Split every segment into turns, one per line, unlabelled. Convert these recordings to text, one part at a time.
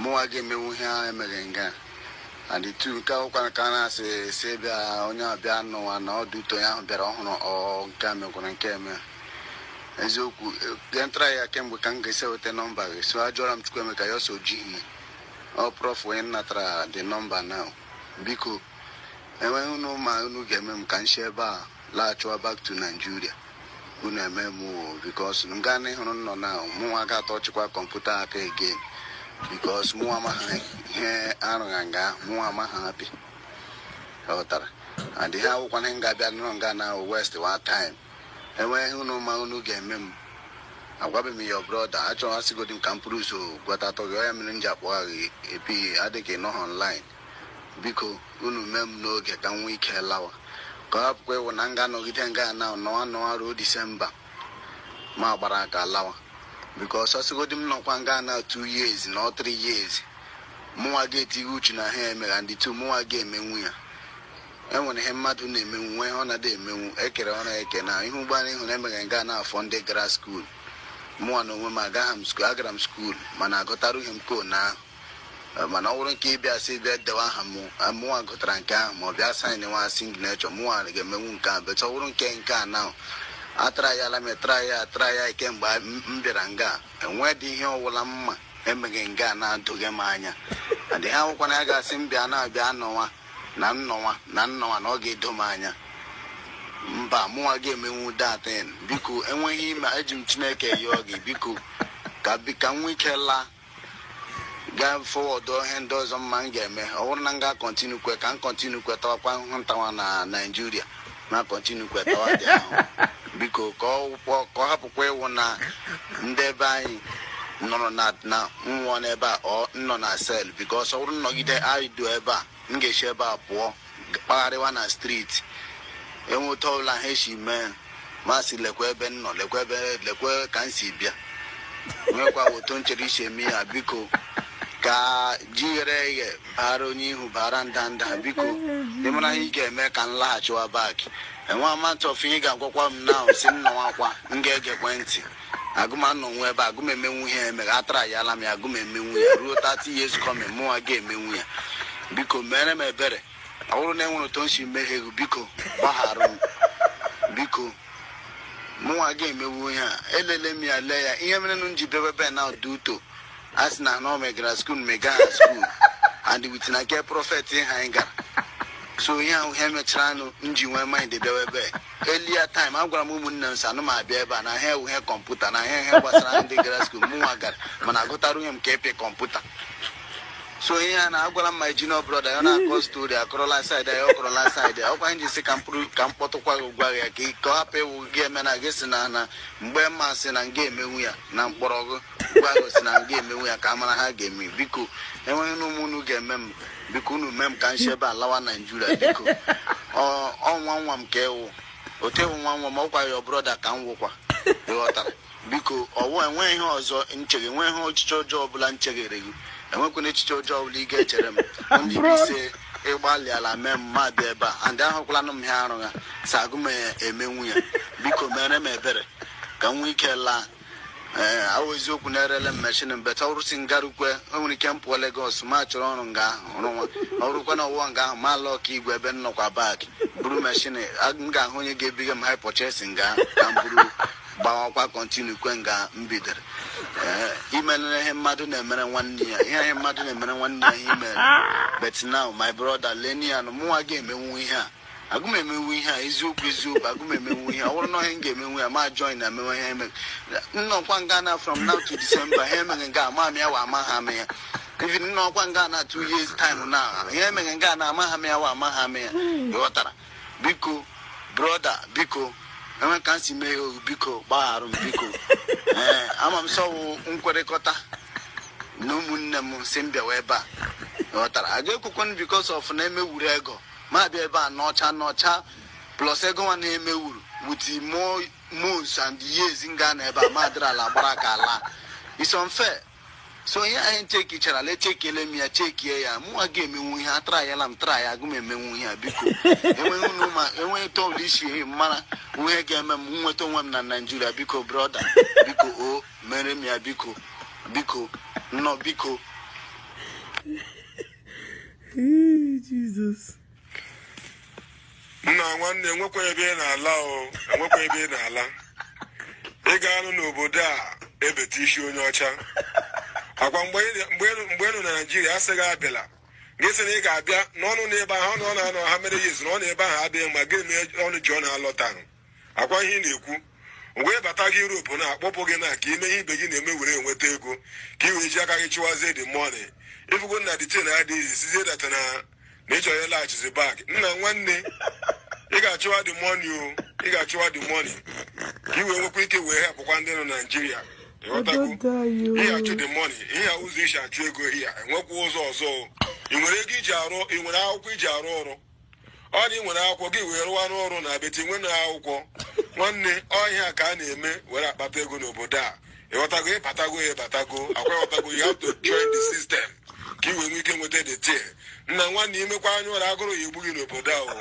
mụnwa ga-emenwu ihe a emegha nga and tu nke ahụkwara ka a na-asị esi ebe a onye ọbịa nụwa na ọdụ ụtọ ya ahụ bịara ọhụrụ ọ nke a mekwara nke eme eziokwu ya m traịa kemgbe ka m ga-esi weta nọmba gị so ajụọla m Chukwuemeka ya asị o jighi ọ prọf onye natara dị nọmba na biko e nwee ihe unu ma unu ga-eme m ka m si ebe a laghachịwa back to Nigeria unu eme m o bikos m gaa n'ịhụrụ nnọ na mụnwa ga atọchịkwa kọmputa aka again bikos mụnwa amaghị ihe arụgha nga mụnwa amaghị apị ghọtara adịghị awụkwa na m ga-abịa nọrọ nga na wastewa time e nwee ihe unu ma unu ga-eme m agwabeghị m ya brọda achọghị asịgodi m ka m pụrụ ụzọ gwatatọ gị ọ ya mere m ji akpọgha gị epi adịghị nọhọ online biko unu mee m n'oge ka m nwee ike lawa ka ọ hapụkwa ịwụ na m ga-anọgide nga na nọwa nọwa ruo disemba ma gbara aka lawa biko ọ sịgodi m nọkwa nga na tu years na ọ tri years mụnwa ga-etighe uchu na ha emegha and tu mụnwa ga-emenwu ya enwere ihe mmadụ na-emenwu nwee ihe ọ na-adị emenwu ekere ọrụ eke na ihe ụgbọ anyị hụrụ emegha nga na ọ fọ ndị gara skuul mụnwa na onwe m agaghị m skuul agara m skuul mana agụtarughị m ko na ahụ mana ọ bụrụ nke ịbịa sị bịa dewe aha m mụnwa gụtara nke ahụ ma ọ bịa saịnwa signechọ mụnwa ga-emenwu nke ahụ bọt ọ bụrụ nke nke a na atraịala m traịa traịa kemgbe m bịara nga enwedị ihe ọwụla m ma emegha nga na-edoghị m anya adịghị awụkwa na a ga-asị m bịa na-abịa anọwa na nnọwa na nnọwa na ọ ga-edo m anya mba mụnwa ga-emenwu datin biko e nwee ihe ị ma eji m chineke yọọ gị biko ka ka m nwee ike laa gaa fọwọdụ ihe ndị ọzọ m ma m ga-eme ọ bụrụ na m ga-akọntinukwe ka m kọntinukwe tawakwa ahụhụ m tawa na naijiria na kọntinukwe tawa dị ahụhụ biko ka ọ wụpọ- ka ọ hapụkwa ịwụ na ndị ebe anyị nụrụ na m nwụọ n'ebe a ọ m nọ na sel bikos ọ bụrụ m nọgide anyị du ebe a m ga-esi ebe a pụọ kpagharịwa na striti enwe otu ọbụla ha esi mee m asị lekwa ebe m nọ lekwa ebe lekwa ka m si bịa nwekwa otu m chere isi eme ya biko ka ji ghere eghe bara onye ihu bara ndanda biko ị mara ihe ị ga-eme ka m laghachiwa bak enwe amount of ihe ị ga-agwakwa m na-asị m nọwakwa m ga-egekwe ntị agụm anọnwụ ebe agụm emenwu ihe emegha atraịala m ya agụm emenwu ya ruo 30 years coming mụnwa ga-emenwu ya biko mere m ebere ọ bụrụ na enwere otu m si mehie gị biko gbaghara m biko mụnwa ga-emewu ihe a eleele m ya lee ya ihe mere m ji bịa ebe a bụ na ọdụ uto a sị na anọ megara skuul mega ha skuul and wit na nke prọfet ha anyị gara so ihe ahụ ihe mechara nụ m ji nwee mind bịawa ebe earlier time agwara m ụmụnne m sị anụ m abịa ebe a na ihe a wụ ihe kọmputa na ihe ihe gbasara ndị gara skuul mụnwa gara mana agụtarughị m ka ịpị kọmputa so ihe a na-agwara m ma junior brọda ya na-akọ stori ọ kọrọla side ya ọ kọrọla side ya ọkwa m ji sị ka m kpọ- ka m kpọtụkwa gị gwa ya ka ị- ka ọ hapụ ịwụ gị eme na gị si na na mgbe mma si na m ga-emenwu ya na m kpọrọ gị Ugbu a gwa gị sị na m ga-emenwu ya ka a mara ihe a ga-eme biko enweghị na ụmụ unu ga-eme m biko unu mee m ka m shi ebe a lawa naijiria biko Ọ- ọ nwanne m ka ị wụ otewu nwa nwa m ọ gwa your brọda ka m wụkwa ịghọtara biko ọwụ enweghị ihe ọzọ m cheghe enweghị echiche ọjọọ ọbụla m cheghere gị enwekwana echiche ọjọọ ọbụla ị ga-echere m only bụ sị ị gbalịala mee m ma bịa ebe a and ahụkwala m ihe ha rụga sị agụ m emenwu ya biko mere m ebere ka m nwee ike laa ee ọ wụ eziokwu na erele m mechin but ọ rụ sị m garukwe o nwere ike m pụọ Legọs m achọrọ ọrụ nga ahụ rụwa ọ rụkwa na ọwụwa nga ahụ ma ala ọka igwe ebe m nọkwa bak buru mechin m ga-ahụ onye ga-ebinye m hire purchase nga ahụ ka m buru gbawakwa kọntinukwe nga m bidoro ee i melere ihe mmadụ na-emere nwanne ya ihe ihe mmadụ na-emere nwanne ya ihe i mere but now my brother lenian mụnwa ga-emenwu ihe a agụ m emenwu ihe a eziokwu eziokwu agụ m emenwu ihe a ọ bụrụ na ọ wụ ihe m ga-emenwu ya m a join ha mewe ihe emere m nọkwa nga a na from now to December ihe m emeghe nga a amaha m ya wa amaha m ya even m nọkwa nga a na two years time na ihe m emeghe nga a na amaha m ya wa amaha m ya ị ghọtara biko broda biko enwe ka m si mee ya ohu biko gbagharụ m biko ee ama m sị ọ wụ nkwekọrịta na ụmụnne m si m bịawa ebe a ghọtara a ga-ekwukwe because of na emewuru ego ma bịa ebe a n'ọcha n'ọcha plus ego nwa na-emewuru with more months and years m ga-anọ ebe a ma dịrị ala gbara aka ala it's unfair so ihe anyị chekichara lee echekiele m ya chekie ya mụnwa ga-emenwu ihe a atrayala m traya agụ m emenwu ihe a biko enweghị unu ma enweghị otu ị si mara ihe ị ga-eme m nweta onwe m na naijiria biko brọda biko o mere m ya biko biko nụ biko
Jizọs nna nwanne enwekwa ebe ị na-ala o enwekwa ebe ị na-ala ị ga-anọ n'obodo a ebeta isi onye ọcha ọ kwa mgbe ị nọ na naijiria a sị gị abịala gị sị na ị ga-abịa na unu nọ ebe ahụ ọ nọ na-anọ ha mere ya ezu na ọ na ebe ahụ adịghị mma gịnị mee unu jirọ na-alọtanụ ọ kwa ihe ị na-ekwu e webata gị Europe na-akpọpụ gị na ka i mee ihe ibe gị na-eme were enweta ego ka ị wee ji aka gị chụwazie the money ifugo na the thing adịghị sizie data na na ị chọrọ ịlaghachizi bak nna nwanne ị ga-achụwa the money o ị ga-achụwa the money ka ị wee nwekwa ike wee helpụkwa ndị nọ Naijiria ịghọtago ihe achụ the money ihe ụzọ ị si achụ ego ihe enwekwa ụzọ ọzọ ị nwere ego i ji arụ ị nwere akwụkwọ i ji arụ ọrụ ọ na ị nwere akwụkwọ gị wee rụwa n'ọrụ na abeti nwe na akwụkwọ nwanne ọ ihe a ka a na-eme were akpata ego n'obodo a ịghọtago ịbatago ya ịbatago akwa ịghọtago you have to join the system ka ị wee nwee ike nweta the tear nna nwanne imekwa anya ụra agụrụ ya-egbu gị n'obodo ahụ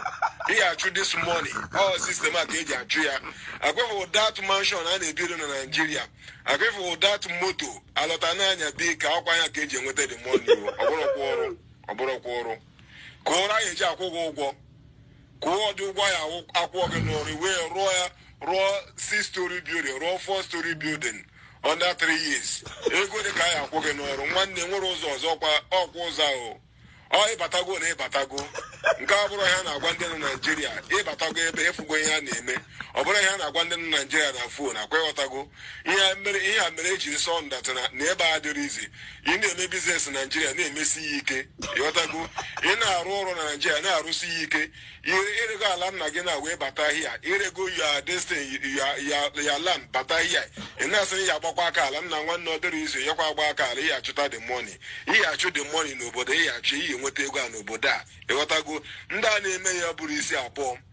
ị ga-achụ this money ọ system a ka eji achụ ya akwa ịfụ that mansion a na-ebiri na naijiria akwa ịfụ that moto alọta na-anya dị ka akwa ya ka eji enweta the money ọ bụrọkwa ọrụ ọ bụrọkwa ọrụ ka ọrụ a ya-eji akwụ gị ụgwọ kedụ ụgwọ a ya-akwụ gị n'ọrụ wee rụọ ya rụọ six story building rụọ four story building under three years ego ole ka a ya-akwụ gị n'ọrụ nwanne nwere ụzọ ọzọ ọkwa ụzọ ahụ ọ ịbatago na ịbatago nke a abụrọ ihe a na-agwa ndị nọ naijiria ịbatago ebe ịfụgo ihe a na-eme ọ bụrọ ihe a na-agwa ndị nọ naijiria na phone akwa ịghọtago ihe mere ihe a mere eji sọ ndata na na ebe a adịrọ easy ị na-eme business naijiria na-emesi ya ike ịghọtago ị na-arụ ọrụ na naijiria na-arụsi ya ike ire- irego ala nna gị na wee bata here irego your this thing your your your land bata here ị na-asị na ya agbakwa aka ala nna nwanne ọ dịrọ easy ị yakwa agba aka ala ị ya-achụta the money ị ya-achụ the money n'obodo ị ya-achụ ị ya-enweta ego a n'obodo a ịghọtago ndị a na-eme ya eburọ isi abụọ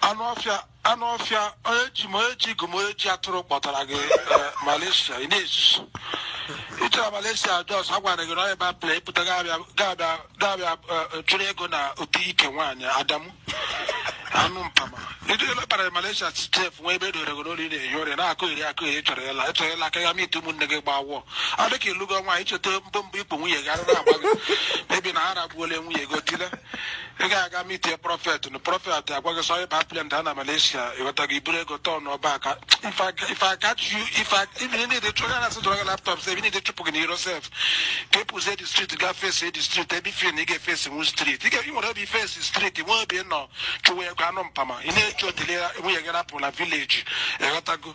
anụ
ọfịa anụ ọfịa onye ji m onye ji gụ m onye ji atụrụ kpọtara gị eh, Malaysia ị na-ezuzu ịchọrọ Malaysia just a gwara gị na onye ba plane ịpụta ga-abịa ga-abịa ga-abịa eh, chụrụ ego na ụdị ike nwaanyị Adamu anụ mpama ndị ụlọ kpara Malaysia sef nwa ebe edore gị n'olu ị na-ehi ụra na-akọyeri akọyeri chọrọ ịla ịchọrọ ịla aka ya ma ite ụmụnne gị gbaa wụọ ọ dị ka ịlụgo nwaanyị icheta mbọ mbọ ikpu nwunye gị ara na-agba gị maybe na ha ragbuola nwunye gị otile ị ga-aga meetie prophet na prophet agwa gị sị ịba plane daa na Malaysia ịghọta gị iburu ego turnụọ back if I catch you if I if you need to chụrụ na asị dọrọ laptop sef you need to chụpụ gị n'iro sef ka ịpụzie the street ga face the street ebe ife na ị ga-eface nwu street ị ga-enwere obi face street nwe obi nọ chụwa ego anụ mpama ị na-eche otele nwunye gị rapụ na village ịghọtago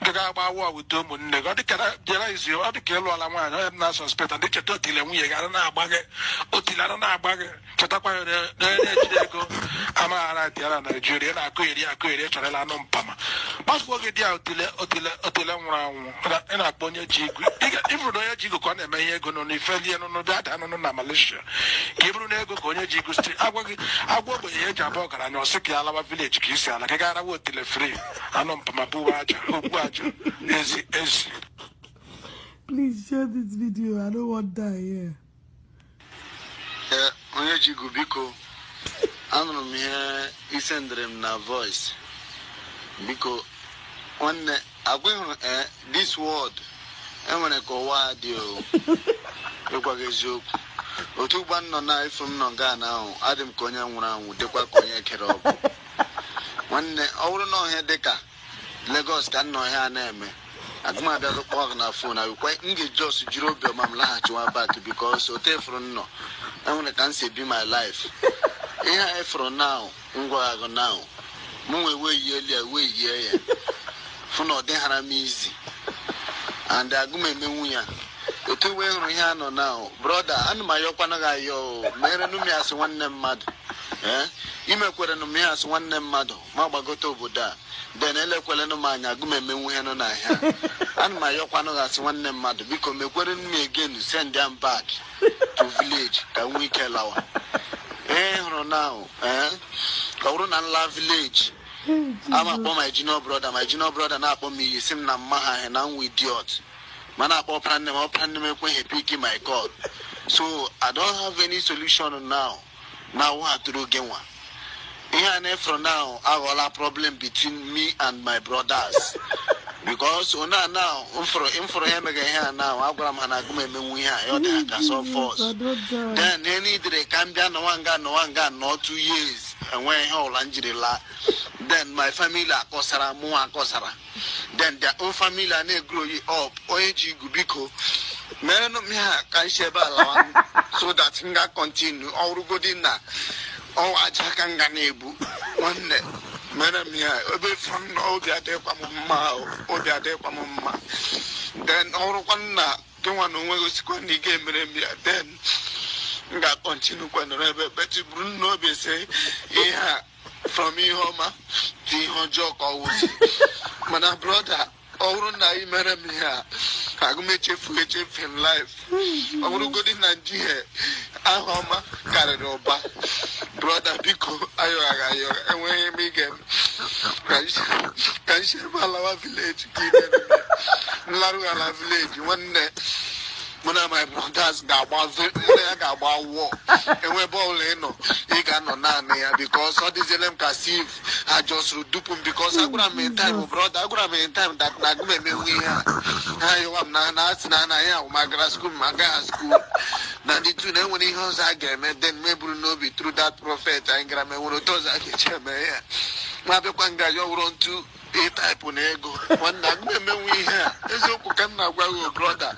nke ga-agba awụ awụ dị ụmụnne gị ọ dịka na- bịara easy ọ dịka ịlụọla nwaanyị ọ ihe m na-asuspect na ị cheta otile nwunye gị ara na-agba gị otile ara na-agba gị chetakwa ya na- na onye na-ejide ego amaghara dị ya na naijiria na-akọyeri akọyeri chọrọ ịla anụ mpama gbafuo gị dị ya otile otile otile nwụrụ anwụ Ị na- ị na-akpọ onye ji ego Ị ga- ị bụrụ na onye ji ego ka ọ na-eme ihe ego n'ụlọ ifelie n'ụlọ bịa daa n'ụlọ na malaysia ka ị buru ego ka onye ji ego street agwa gị agwa ogbenye ya eji abụ ọgaranya ọ sị ka ya alawa village ka isi ala ka ị ga-arawa otile free anọ m ma buwa
aja okwu aja ezi ezi Please share this video. I don't want that here. Ee,
onye ji igu biko anụrụ m ihe i sendịrị m na voice biko nwanne agwa ị hụrụ ee this world enwere ka ụwa a dị o ịgwa gị eziokwu otu ugbua m nọ na ife m nọ nga na-ahụ adị m ka onye nwụrụ anwụ dịkwa ka onye kere ọgwụ nwanne ọ bụrụ na ọ ihe dị ka Lagos ka m nọ ihe a na-eme agụ m abịa kpọọ gị na phone ọ wụkwa m ga-ejust jiri obi ọma m laghachiwa back because otu efuru m nọ enwere ka m si ebi my life ihe a efuru now m gwa gị now mụ nwee wee yie elu ya wee yie ya fụ na ọ dịghara m easy and agụ m emenwu ya otu iwe hụrụ ihe a nọ now brother ana m ayọkwanụ gị ayọ merenụ m ya as nwanne mmadụ ee i mekwerenụ m ya as nwanne mmadụ ma gbagote obodo a then elekwelenụ m anya agụ m emenwu ihe nọ n'ahịa ana m ayọkwanụ gị as nwanne mmadụ biko mekwere m again send m back to village ka m nwee ike lawa ee hụrụ na ee ọ bụrụ na m laa village a ma akpọ my junior brother my junior brother na-akpọ m iyi sị m na mma ha na m wụ idiot m na-akpọ ọpara nne m ọpara nne m ekweghị pick my call so i don't have any solution now now what to do again nwa ihe a efuru now aghọọla problem between me and my brothers because onye a now mfụrụ mfụrụ ya emega ihe a now agwara m ha na agụ m emenwu ihe a ya ọ dị ha ka sọ force then ihe niile ka m bịa nọwa nga nọwa nga nọ two years enweghị ihe ọbụla m jiri laa then my family akọsara mụ akọsara then their own family a na-egrow up onye ji igu biko merenụ m ihe a ka m si ebe a lawa so that m ga continue ọ wụrụgodi na ọ wụ aja ka m ga na-ebu nwanne mere m ihe a ebe fụrụ m nọ obi adịghịkwa m mma o, obi adịghịkwa m mma then ọ wụrụkwa na gị nwa na onwe gị asịkwa na ị ga-emere m ya then m ga-acontinue kwa nọrọ ebe but buru n'obi sị ihe a from ihe ọma dị ihe ọjọọ ka ọ wụzi mana brother ọ bụrụ na ị mere m ihe a agụ m echefu echefu in life ọ bụrụgodi na njihie aha ọma karịrị ụba brother biko ayọ gị ayọ gị enweghị m ihe ga-eme ka m si ebe a lawa village ka m larụala village nwanne mụ na my brothers ga-agba mụ na ya ga-agba war onye ọbụla ịnọ ị ga-anọ naanị ya because ọ dịziele m ka as if a justụrụ dupu m because agwara m in time brother agwara m in time that na agụ m emenwu ihe a ha yọwa m na na asị na anaghị ahụ ma gara school ma agaghị school na ndị tu na enwere ihe ọzọ a ga-eme then m eburu n'obi through that prophet anyị gara ma enwere otu ọzọ a ga-esi eme ya ma bịakwa nga ya ọ wụrụ ntu ịtaịpụ na ego nwanne gị emewe ihe a eziokwu ka m na-agwa gị o brọda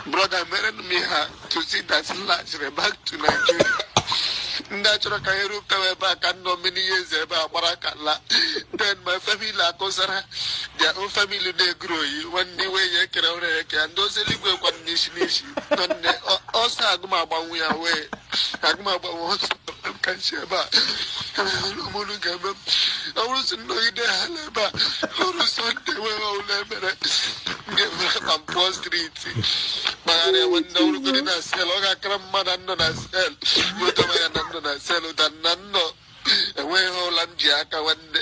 brọda mere m ihe a to see that m laghachiri back to Nigeria ndị a chọrọ ka anyị rụpụtawa ebe a ka m nọ many years ebe a gbara aka laa then my family akọsara their own family na-eguru oyi nwanne iwe ya ekere ụra ya eke ya ndị ozi eluigwe kwa n'isi n'isi nọ nne ọ- ọsọ agụmagbanwe ya wee agụmagbanwe ọsọ ka m si ebe a ụmụnụ ga-eme m ọ bụrụ si m nọgide ha n'ebe a ọ bụrụ Sunday wee ọbụla emere m ga-eme ka m pụọ street kpagharịa nwe ndị ọ wụrụgodi na cell ọ ga-akara mma na nnọ na sel ụtọ ya na m nọ na cell than na m nọ enweghị ihe ọbụla m ji aka nwanne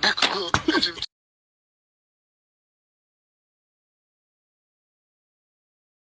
biko eji m